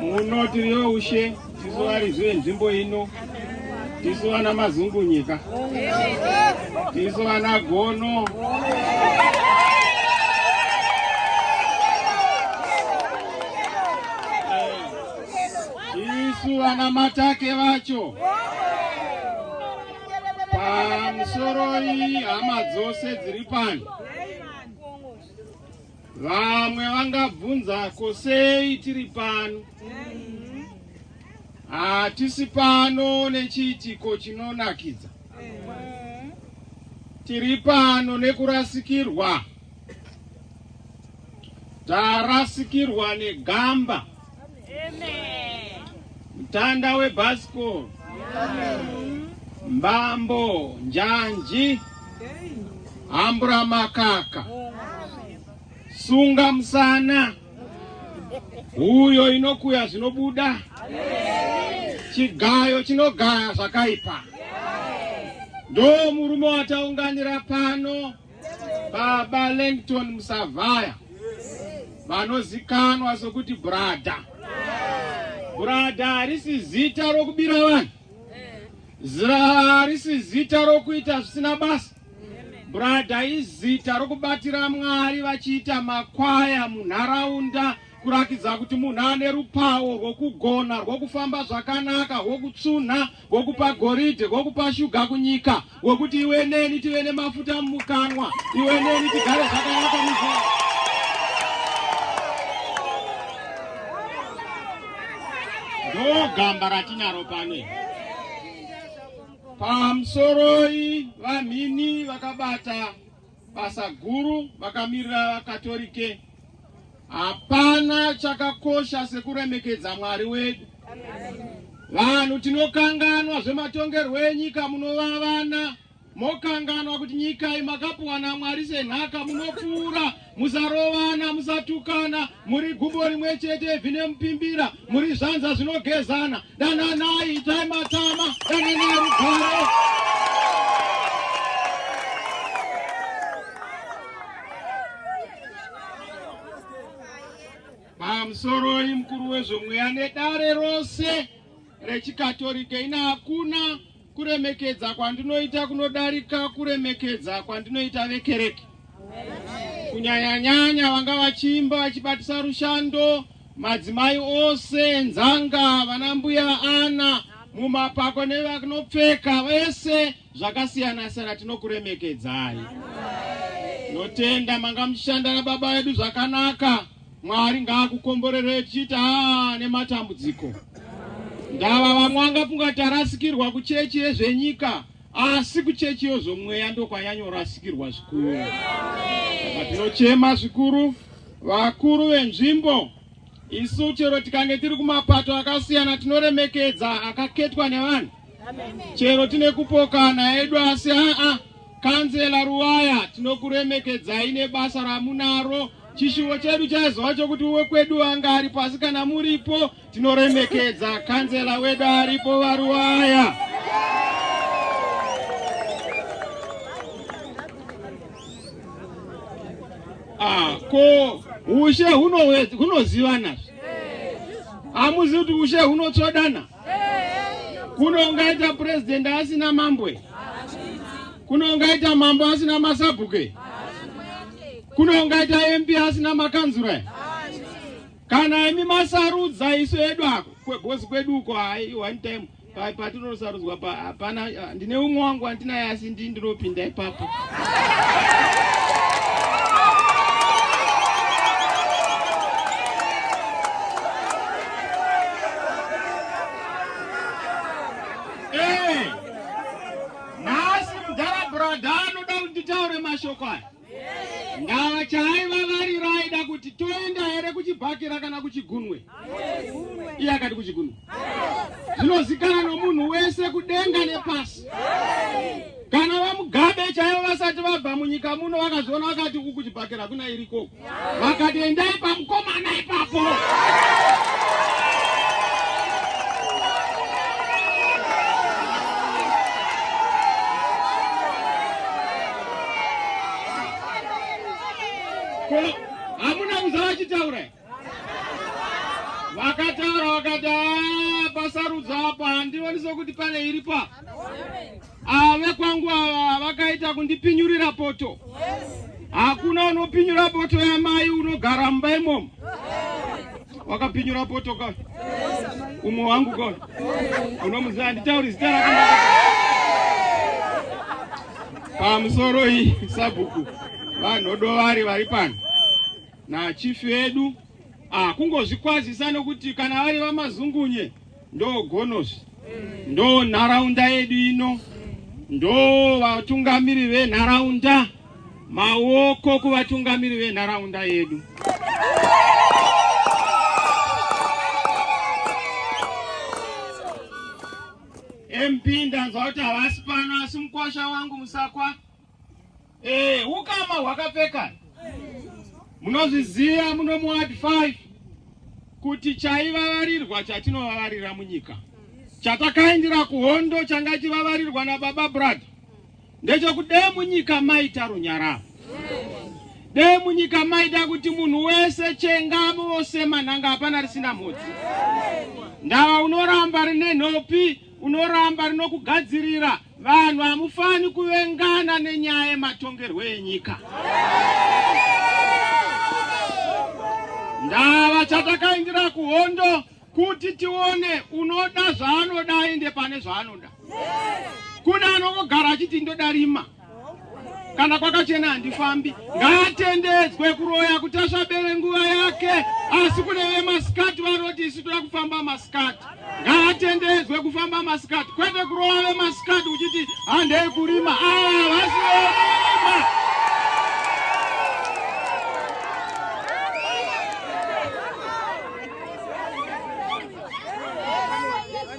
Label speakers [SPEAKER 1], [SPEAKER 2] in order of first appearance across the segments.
[SPEAKER 1] muno tiri youshe tisu varidzi venzvimbo ino tisu vana mazungunyika tisu vana gono tisu vana matake vacho pamusoro iyi hama dzose dziri pano Vamwe vangabvunza ko sei tiri pano? Hatisi pano nechiitiko chinonakidza. Tiri pano nekurasikirwa. Tarasikirwa negamba. Mtanda webhasikoro mbambo njanji hambura makaka sunga musana huyo inokuya zvinobuda chigayo chinogaya zvakaipa ndo murume wataunganira pano Baba Langton Musavhaya vanozikanwa sokuti brada. Brada harisi zita rokubira vanhu, harisi zita rokuita zvisina basa. Brada izita rokubatira Mwari vachiita makwaya munharaunda kurakidza kuti munhu ane rupawo rwokugona rwokufamba zvakanaka rwokutsvunha wokupa goridhe wokupa shuga kunyika wokuti iwe neni tive nemafuta mumukanwa iwe neni tigare zvakanaka muzvaa ndogamba ratinaro pane pamusoroi vamhini vakabata Basa guru vakamirira vakatorike hapana chakakosha sekuremekedza Mwari wedu. Vanhu tinokanganwa zvematongerwo enyika, munova vana mokanganwa kuti nyika iyi makapuwa naMwari senhaka, munopfuura, musarovana, musatukana, muri gumbo rimwe chete vine mupimbira muri zvanza zvinogezana dananai itai matama dananai rugare pamusoroi mukuru wezvomweya nedare rose rechikatorika ina hakuna Kuremekedza kwandinoita kunodarika kuremekedza kwandinoita vekereke, kunyanyanyanya vanga vachiimba vachibatisa rushando, madzimai ose, nzanga, vana mbuya ana, mumapako nevanopfeka vese zvakasiyana siyana, tinokuremekedzai. Notenda manga muchishanda nababa vedu zvakanaka. Mwari ngaakukomborere tichiti haa nematambudziko ndava vamwe angafunga kuti arasikirwa kuchechi yezvenyika asi kuchechi yozomweya ndokwanyanyorasikirwa zvikuru saka tinochema zvikuru vakuru venzvimbo isu chero tikange tiri kumapato akasiyana tinoremekedza akaketwa nevanhu chero tine kupokana edu asi aa kanzela ruwaya tinokuremekedzai nebasa ramunaro Chishuwo chedu chaizova chokuti wekwedu anga aripo, asi kana muripo tinoremekedza kanzela wedu aripo Varuwaya. Ah, ko ushe hunozivana hamuzivi kuti ushe hunotsvodana Kuno ungaita president asina mambwe? Kuno ungaita mambo asina masabhuke? Kuno ungaita MP asina makanzura? Kana imi masarudza isu edu ako kwegozi kwedu uko, one time patinosarudzwa hapana Ndine umwe wangu wandinaye asi ndii ndinopinda ipapo. Hey! Nhasi mudhara brother anoda kunditaure mashoko aya. Ndava chaiva variro aida kuti toenda here kuchibhakira kana kuchigunwe? Iye akati kuchigunwe. Zvinozikana nomunhu wese kudenga nepasi. Kana vamugabe chaivo vasati vabva munyika muno vakazviona vakati uku kuchibhakira kuna iriko. Vakati endai pamukomana ipapo. hamuna kuzava achitaura vakataura vakati ah, pasarudzo apa handioni sokuti pane iripa ave ah, kwangu ava vakaita kundipinyurira poto hakuna unopinyura poto yamai unogara mumba imomo wakapinyura poto ka umwe wangu ka unomuziva handitauri zita rakanaka Pamusoro iyi sabhuku vanhodovari vari pano nachifi vedu ah, kungozvikwazisa nokuti kana vari vamazungunye ndo gonosi ndo nharaunda yedu ino ndo vatungamiri venharaunda maoko kuvatungamiri venharaunda yedu MP ndanzwa kuti havasi pano asi mukwasha wangu musakwa eh ukama hwakapfeka munozviziva muno muward 5 kuti chaivavarirwa chatinovavaririra munyika chatakaindira kuhondo changa chivavarirwa nababa brother Ndechokuti dee munyika maita runyararo, dee munyika maita kuti munhu wese chengamo vose manhanga hapana risina mhodzi. Ndava unoramba rine nhopi, unoramba rinokugadzirira. Vanhu hamufani kuvengana nenyaya yematongerwo enyika. Ndava chatakaindira kuhondo kuti tione unoda zvaanoda aende pane zvaanoda kune anongogara achiti ndoda rima kana kwakachena handifambi ngaatendedzwe kuroya kuti asvabere nguva yake asi kune vemasikati vanoti isu toda kufamba masikati ngaatendedzwe kufamba masikati kwete kuroya vemasikati uchiti handei kurima aa vasiorima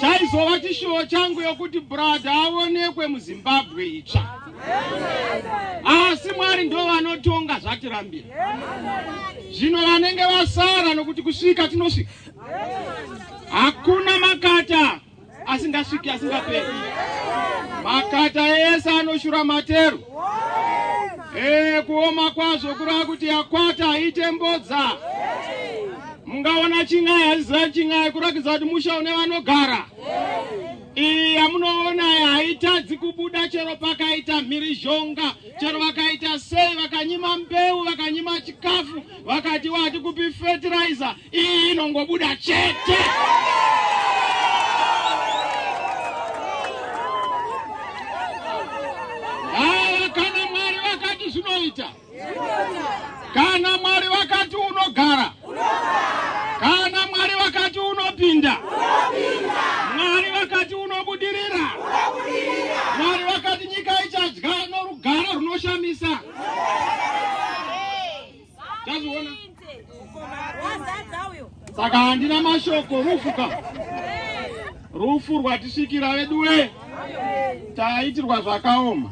[SPEAKER 1] chaizova chishuwo changu yokuti bhuradha aonekwe muzimbabwe itsva asi mwari ndo vanotonga zvatirambira zvino vanenge vasara nokuti kusvika tinosvika hakuna makata asingasviki asingaperi makata ese anoshura matero ee kuoma kwazvo kurava kuti yakwata haite mbodza mungaona chin'ai haziziva chin'ai kurakidza kuti musha une vanogara iyi yamunoona haitadzi kubuda chero pakaita mhirizhonga chero vakaita sei vakanyima mbeu vakanyima chikafu vakati wati kupi fertilizer iyi inongobuda chete aa kana mwari vakati zvinoita kana mwari vakati unogara kana mwari vakati unopinda mwari vakati unobudirira mwari vakati nyika ichadya norugara runoshamisa Tazviona. Saka handina mashoko rufu ka. Rufu rwatisvikira veduwe. Taitirwa zvakaoma.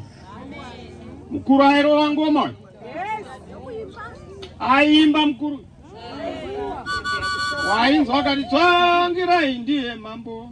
[SPEAKER 1] Mukuru airova ngoma uyu. Aimba mukuru. Wainzwa akati tsvangirai ndiye mambo.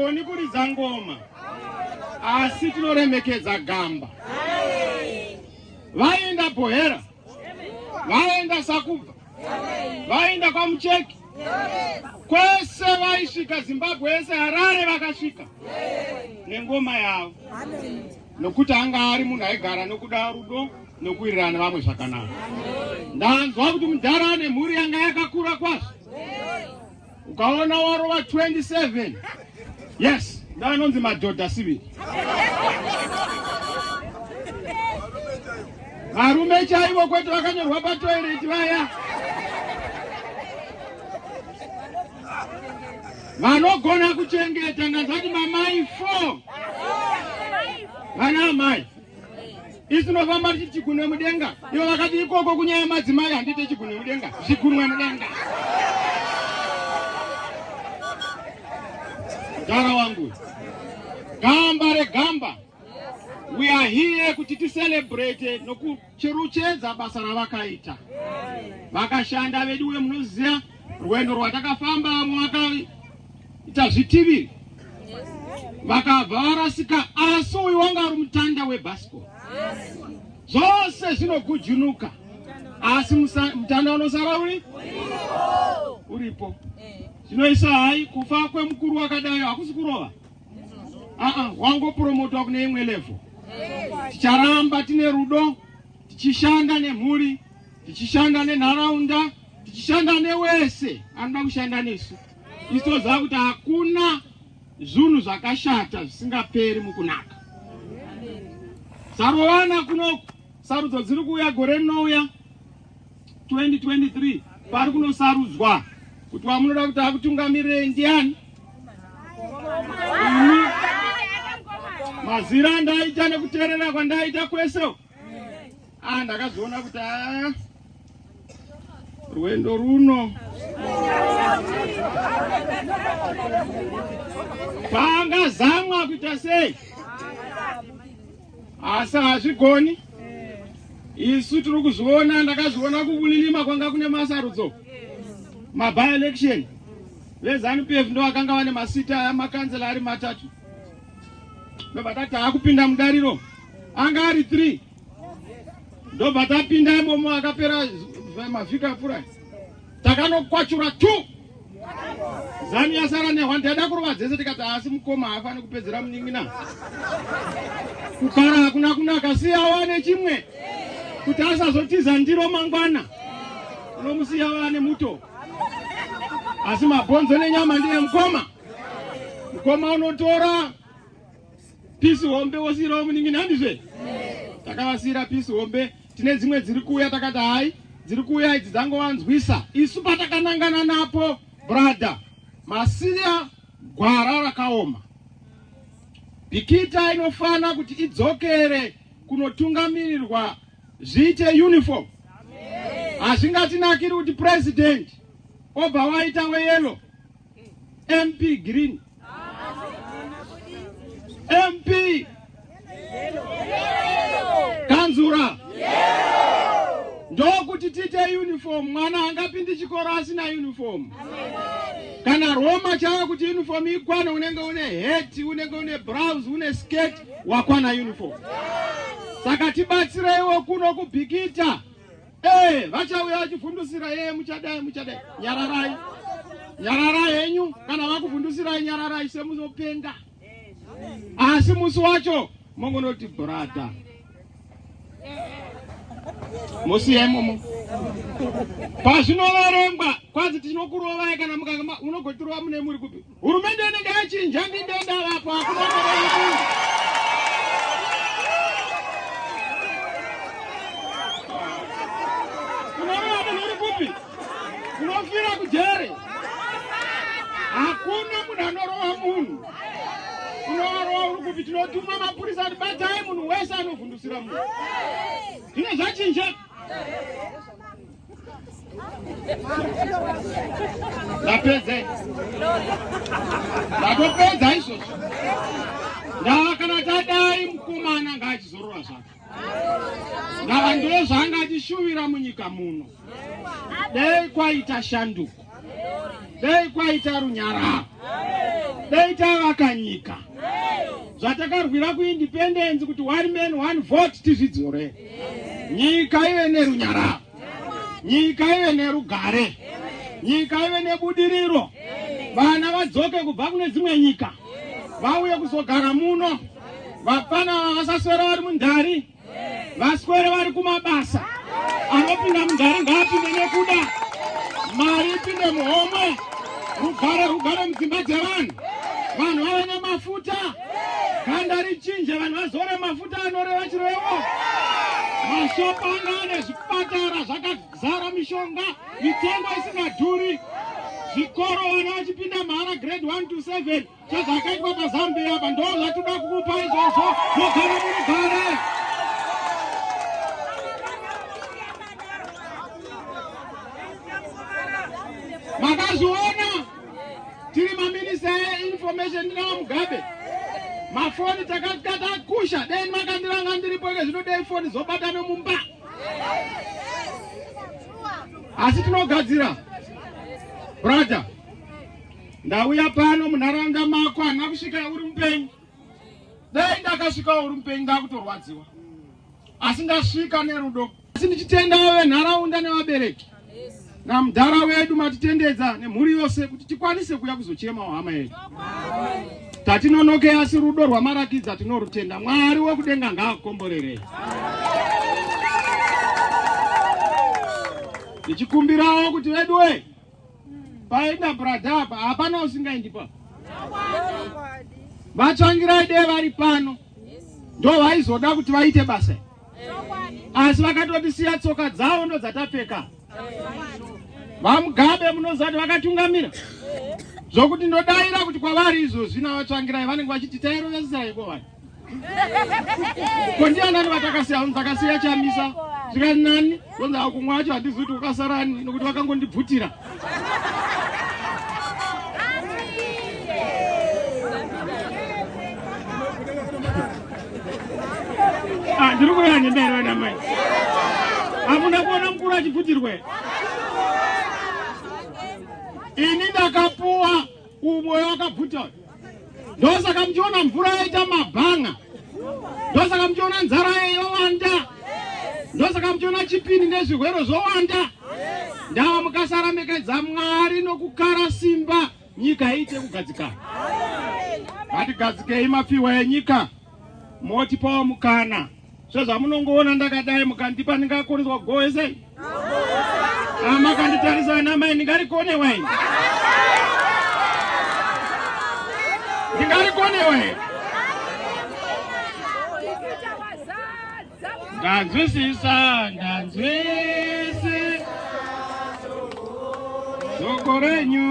[SPEAKER 1] hatigoni kuridza ngoma asi tinoremekedza gamba vainda bohera vaenda sakubva vaenda kwamucheki kwese vaisvika zimbabwe yese harare vakasvika nengoma yavo nokuti anga ari munhu aigara nokuda rudo nokuwirirana nevamwe zvakanaka ndanzwa kuti mudhara ane mhuri yanga yakakura kwazvo Ukaona warova 27 yes ndaanonzi madhodha siviri varume chaivo kwete vakanyorwa patoireti vaya vanogona kuchengeta ndanzati mamai four vana amai isu tinofamba tichiti chigunwe mudenga ivo vakati ikoko kunyaya madzimai handiite chigunwe mudenga zvigunwe mudenga gara wangu gamba regamba we are here kuti ticelebrate nokucheruchedza basa ravakaita vakashanda veduwe munoziva Rwendo rwatakafamba mwakaita zvitiviri vakabva varasika asi uyu wanga ari mutanda webasco zvose zvinogujunuka asi mutanda unosara uri uripo zvinoisa hai kufa kwemukuru wakadai hakusi kurova aa wangopromotwa kune imwe levo ticharamba tine rudo tichishanda nemhuri tichishanda nenharaunda tichishanda newese anoda kushanda nesu isu toziva kuti hakuna zvunhu zvakashata zvisingaperi mukunaka sarowana kunoku sarudzo dziri kuuya gore rinouya 2023 pari kunosarudzwa kuti wamunoda kuti akutungamirire ndiani mazira ndaita nekuteerera kwandaita kwese Ah, ndakazoona kuti ah, rwendo runo pangazamwa kuita sei asi hazvigoni isu tiri kuzviona ndakazviona kukulilima kwanga kune masarudzo maby election vezanupf ndo vakanga vane masita amakanzela ari matatu ndobva tati akupinda mudariro anga ari three ndobva tapinda imomo akapera mavhiki apfurai takanokwachura tu zanu yasara nehwa ndaida kurova dzese tikati haasi mukoma haafani kupedzera munin'ina kukara hakuna kunaka siya wane chimwe kuti asazotiza ndiro mangwana unomusiya wane muto asi mabhonzo nenyama ndiye mukoma mukoma unotora pisi hombe wosiirawo munin'ina handizve takavasiira pisi hombe tine dzimwe dziri kuuya takati hayi dziri kuuya idzi dzangovanzwisa isu patakanangana napo brother masiya gwara rakaoma bikita inofana kuti idzokere kunotungamirirwa zviite uniform hazvingatinakiri kuti president obva waita weyelo MP green. MP kanzura ndokuti tiite uniform. Mwana angapindi chikoro asina uniform. Kana Roma chava kuti uniform ikwane, unenge une hat, unenge une blouse, une skirt, wakwana uniform. Saka tibatsireiwo kuno kubhikita. Eh, vachauya vachivhundusira yeye eh, muchadai muchadai nyararai nyararai henyu kana vakuvhundusirai nyararai semunopenga asi musi wacho mongonoti brada musiyemo pazvinoverengwa kwanzi tinokurovai kana mukange unogotirova mune muri kupi Hurumende inenge yachinja ndinge ndavakwa kunofira kujere hakuna munhu anorova munhu unovarova uri kupi tinotuma mapurisa kuti batai munhu wese anovhundusira munhu zvino zvachinja Ndapedza. Ndapedza izvozvo. Ndava kana tadai mukomana ngaachizorora zvake. Ndava ndozvanga achishuvira munyika muno. Dei kwaita shanduko. dai kwaita runyararo dai tavaka nyika zvatakarwira kuindependensi kuti one man one vote tizvidzore nyika ive nerunyararo nyika ive nerugare nyika ive nebudiriro vana vadzoke kubva kune dzimwe nyika vauye kuzogara muno vapfana vasaswera vari mundhari vaswere vari kumabasa anopinda mugare ngaapinde nekuda mari ipinde muhomwe rugare rugare mudzimba dzevanhu vanhu vave nemafuta ganda richinje vanhu vazore mafuta anoreva chirevo mashopa anga ane zvipatara zvakazara mishonga mitengo isingadhuri zvikoro vana vachipinda mahara grade 1 to 7 Chezvakaitwa paZambia apa ndo zvatida kukupa izvozvo mogara munogara. Makazviona tiri maminista einformation ndinawo Mugabe mafoni takatakusha dai makandiranga ndiripo ike zvino dai foni zobatana mumba asi tinogadzira brother ndauya pano munharaunda mako hana kusvika uri mupenyu dai ndakasvikawo uri mupenyu ndakutorwadziwa asi ndasvika nerudo asi ndichitendawo venharaunda nevabereki namudhara wedu matitendedza nemhuri yose kuti tikwanise kuya kuzochemawo hama yedu tatinonoke asi rudo rwamarakidza tinorutenda mwari wekudenga ngaakukomborerei ndichikumbirawo kuti veduwe paenda brada apa hapana usingaendi pa vatsvangirai dee vari pano ndo vaizoda kuti vaite basa asi vakatotisiya tsoka dzavo ndo dzatapfeka vamugabe munoziva kuti vakatungamira zvokuti ndodaira kuti kwavari izvozvi navatsvangirai vanenge vachiti tairovesesa iko vanhu Ko ndianani vatakasiya vanhu takasiya chamisa zvikati nani zonzi akumwe acho handizi kuti wakasarani nokuti vakangondibvutira ah, ndiri kuya nendai vana mai hamuna kuona mukuru achibvutirwe ini ndakapuwa umoyo wakabvuta uyu ndosaka muchiona mvura yaita mabhanga ndosaka muchiona nzara yeyowanda ndosaka muchiona chipini nezvirwere zvowanda ndava mukasarambekedza mwari nokukara simba nyika iite kugadzikana ngatigadzikei mapiwa enyika motipawo mukana sezvamunongoona ndakadai mukandipa ndingakoneswa goe sei amakanditarisa ana mai ndingarikone wai ndingarikone wai ndanzwisisa ndanzwisi shoko renyu